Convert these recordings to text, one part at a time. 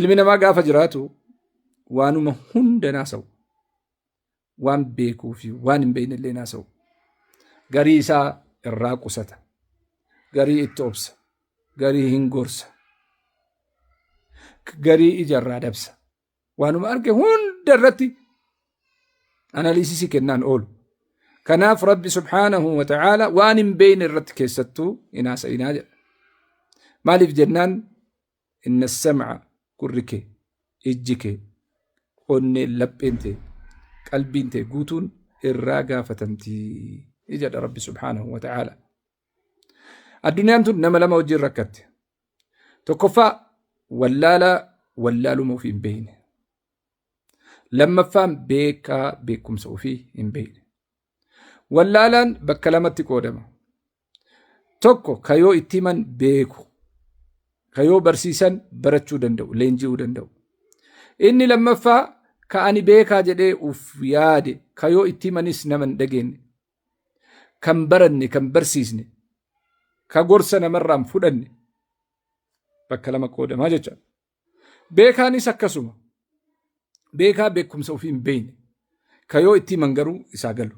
Ilmi namaa gaafa jiraatu waanuma hunda naasa'u. Waan beekuu fi waan hin beekne illee naasa'u. Garii isaa irraa qusata. Garii itti obsa. Garii hin gorsa. Garii ija irraa dabsa. Waanuma arge hunda irratti analiisisii kennaan oolu. Kanaaf Rabbi subhaanahu wa ta'aala waan hin beeyne irratti keessattuu hin haasa'inaa jedha. Maaliif jennaan inna sam'a gurri kee ijji kee onneen lapheen tee qalbiin tee guutuun irraa gaafatamti jedha Rabbi subhaanahu wa ta'aala. Addunyaan tun nama lama wajjin rakkatte. Tokkoffaa wallaalaa wallaaluma ofii hin beekne. Lammaffaan beekaa beekumsa ofii hin beekne. Wallaalaan bakka lamatti qoodama. Tokko ka yoo itti himan beeku, ka yoo barsiisan barachuu danda'u, leenji'uu danda'u. Inni lammaffaa ka ani beekaa jedhee uf yaade, ka yoo itti himanis nama hin dhageenye. kan baranne kan barsiisne ka gorsa namarraan fudhanne bakka lama qoodamaa jecha beekaanis akkasuma beekaa beekumsa ofii hin beekne ka yoo itti himan garuu isaa galu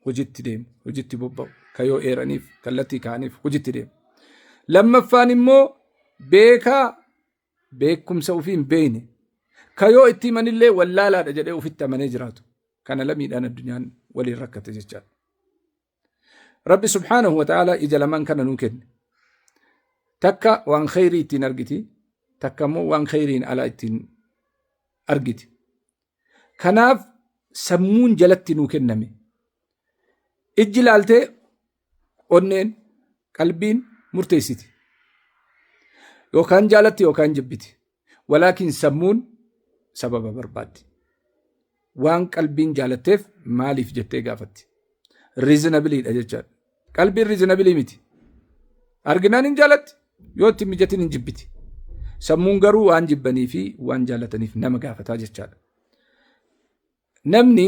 hojitti deemu hojitti bobba'u ka yoo eeraniif kallattii kaaniif hojitti deemu lammaffaan immoo beekaa beekumsa ofii hin beekne ka yoo itti himanillee wallaalaadha jedhee ofitti amanee jiraatu kana lamiidhaan addunyaan waliin rakkate jechaadha. Rabbi subhaanahu wa ta'ala ija lamaan kana nuu kenne. Takka waan kheyrii ittiin argiti, takka immoo waan kheyriin alaa ittiin argiti. Kanaaf sammuun jalatti nuu kenname. Ijji laaltee onneen qalbiin murteessiti yookaan jaalatti yookaan jibbiti walaakin sammuun sababa barbaaddi waan qalbiin jaalatteef maaliif jettee gaafatti riizinabiliidha jechaadha qalbiin riizinabilii miti arginaan hin jaalatti yoo itti mijatin hin jibbiti sammuun garuu waan jibbanii fi waan jaalataniif nama gaafataa jechaadha namni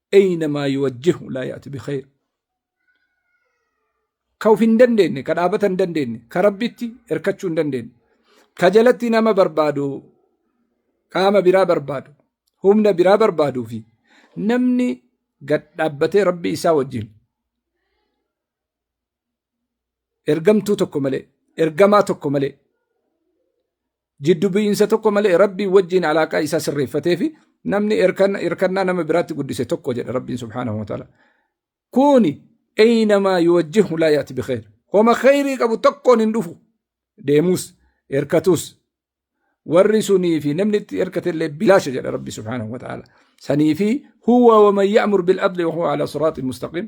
eeynamaa yuwajjihu laa yaati bikheer ka uf hin dandeenye ka dhaabata hin dandeenye ka rabbitti erkachuu hin dandeenye ka jalatti nama barbaadu qaama biraa barbaadu humna biraa barbaaduu fi namni gad dhaabbatee rabbi isaa wajjin ergamtuu tokko malee ergamaa tokko malee Jiddu bu'iinsa tokko malee Rabbii wajjiin alaaqaa isaa sirreeffatee fi namni hirkannaa nama biraatti guddise tokko jedha Rabbiin subhaanahu wa ta'ala. Kuni eynamaa yuwajjihu laa yaati bikheer. Homa kheyrii qabu tokkoon hin dhufu. Deemuus, hirkatuus. Warri sunii fi namni itti hirkate illee bilaasha jedha Rabbi subhaanahu wa ta'ala. Sanii fi huwa wa man ya'mur bil adli wa huwa ala siraaxin mustaqiim.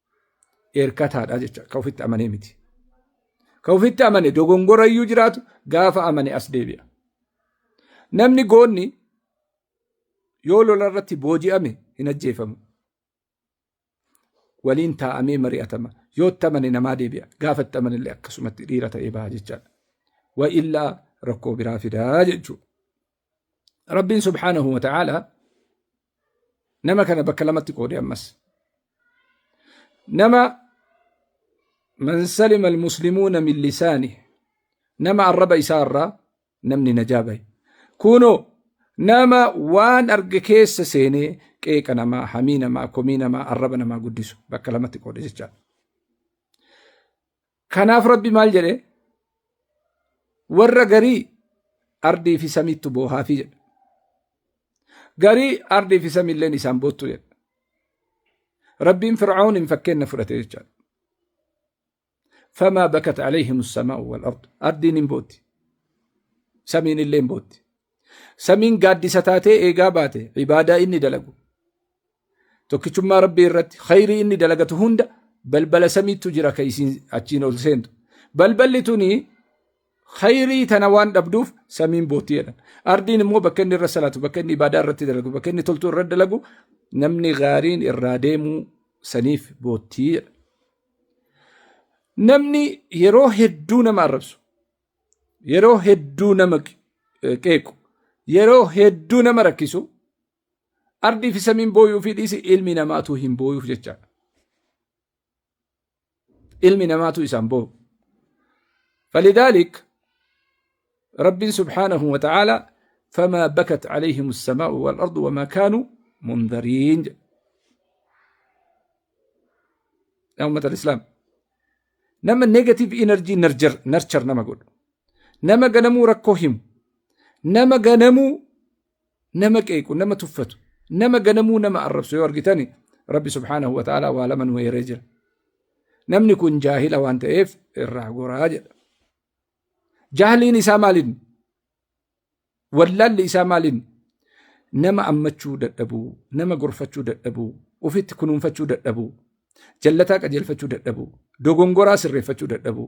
Eerkataadha jecha ka ofitti amanee miti. Ka ofitti amane dogongora iyyuu jiraatu gaafa amane as deebi'a. Namni goonni yoo lola irratti booji'ame hin ajjeefamu. Waliin taa'amee mari'atama. Yoo itti amane namaa deebi'a. Gaafa itti amane illee akkasumatti dhiira ta'ee baha jechaadha. Wa illaa rakkoo biraa fidaa jechuudha. Rabbiin subhaanahu wa ta'aala nama kana bakka lamatti qoode ammas. Nama man salima almuslimuuna min lisaani nama arraba isaa irraa namni najaa bahe. Kunoo nama waan arge keessa seenee qeeqa namaa, hamii namaa, komii namaa, arraba namaa guddisu bakka lamatti qoode jechaadha. Kanaaf Rabbi maal jedhe? Warra garii ardii fi samiittu boohaafii jedhe. Garii ardii fi samiilleen isaan boottu jedhe. Rabbiin Fir'aawniin fakkeenna fudhate jechaadha. Famaa bakat alayhim samaa'u wal ardu. Ardiin hin bootti. Samiin illee hin bootti. Samiin gaaddisa taatee eegaa baate ibaadaa inni dalagu. tokkichummaa rabbii irratti khayrii inni dalagatu hunda balbala samiittu jira ka isiin achiin ol seentu balballi tuni khayrii tana waan dhabduuf samiin boottii jedhan ardiin immoo bakka inni irra salaatu bakka inni ibaadaa irratti dalagu bakka inni toltuu irra dalagu namni gaariin irraa deemuu saniif boottii jedha namni yeroo hedduu nama arrabsu yeroo hedduu nama qeequ yeroo hedduu nama rakkisu Ardii fi samiin booyuu fi dhiisi ilmi namaatu hin booyuuf jecha. Ilmi namaatu isaan booyu. Falidaalik Rabbiin subhaanahu wa ta'aala famaa bakat alayhim as-samaa'u wal ardu wamaa kaanu mundariin jedha. Yaa ummata al-Islaam. Nama negative energy nurture, nurture nama godhu. Nama ganamuu rakkoo himu. Nama ganamuu nama qeequ nama tuffatu nama ganamuu nama arrabsu yoo argitani rabbi subhaanahu wa ta'aalaa waa lama nu eeree jira namni kun jaahila waan ta'eef irraa goraa jedha jaahliin isaa maaliin wallaalli isaa maaliin nama ammachuu dadhabuu nama gorfachuu dadhabuu ofitti kunuunfachuu dadhabuu jallataa qajeelfachuu dadhabuu dogongoraa sirreeffachuu dadhabuu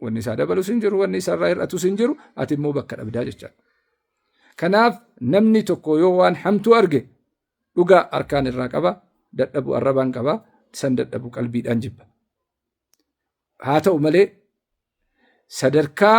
Wanni isaa dabalus hin jiru, wanni isarraa hir'atus hin jiru, ati immoo bakka dhabdaa jechaadha. Kanaaf namni tokko yoo waan hamtuu arge dhugaa harkaan irraa qaba, dadhabu arrabaan qaba, san dadhabu qalbiidhaan jibba. Haa ta'u malee sadarkaa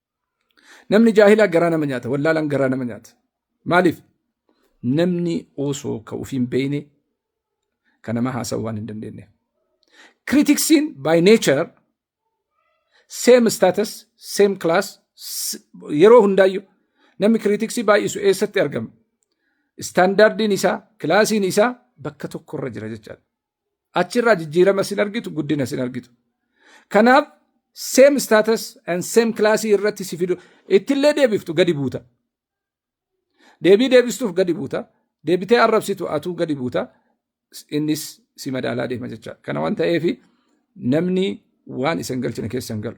Namni jaahilaa garaa nama nyaata, wallaalaan garaa nama nyaata. Maaliif? Namni osoo ka ofiin beeyne ka nama haasa'u waan hin dandeenye. Kiritiksiin by nature same status, same class s- yeroo hundaayyu namni kiritiksii baay'isu eessatti argama? Istaandaardiin isaa, kilaasiin isaa bakka tokkorra jira jechaadha. Achirraa jijjiirama sin argitu, guddina sin argitu. Kanaaf same status and same class irratti si fidu ittillee deebiftu gadi buuta. Deebii deebistuuf gadi buuta. Deebitee arrabsitu atuu gadi buuta. Innis si madaalaa deema jecha. Kana waan ta'eef namni waan isin galchine keessa hin galu.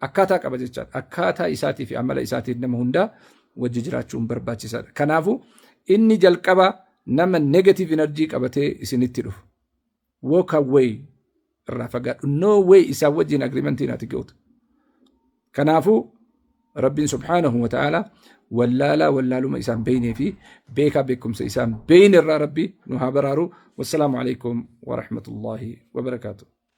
Akkaataa qaba jechaadha. Akkaataa isaatii fi amala isaatiin nama hundaa wajji jiraachuun barbaachisaadha. Kanaafuu inni jalqaba nama negative energy qabatee isinitti dhufu. Walk away irraa fagaadhu. No way isaa wajjin agreementiin ati gootu. Kanaafuu Rabbiin subhaanahu wa ta'ala wallaalaa wallaaluma isaan beeynee fi beekaa beekumsa isaan beeyne irraa Rabbi nu haa baraaru. Wassalaamu alaikum wa rahmatullahi wa barakaatuh.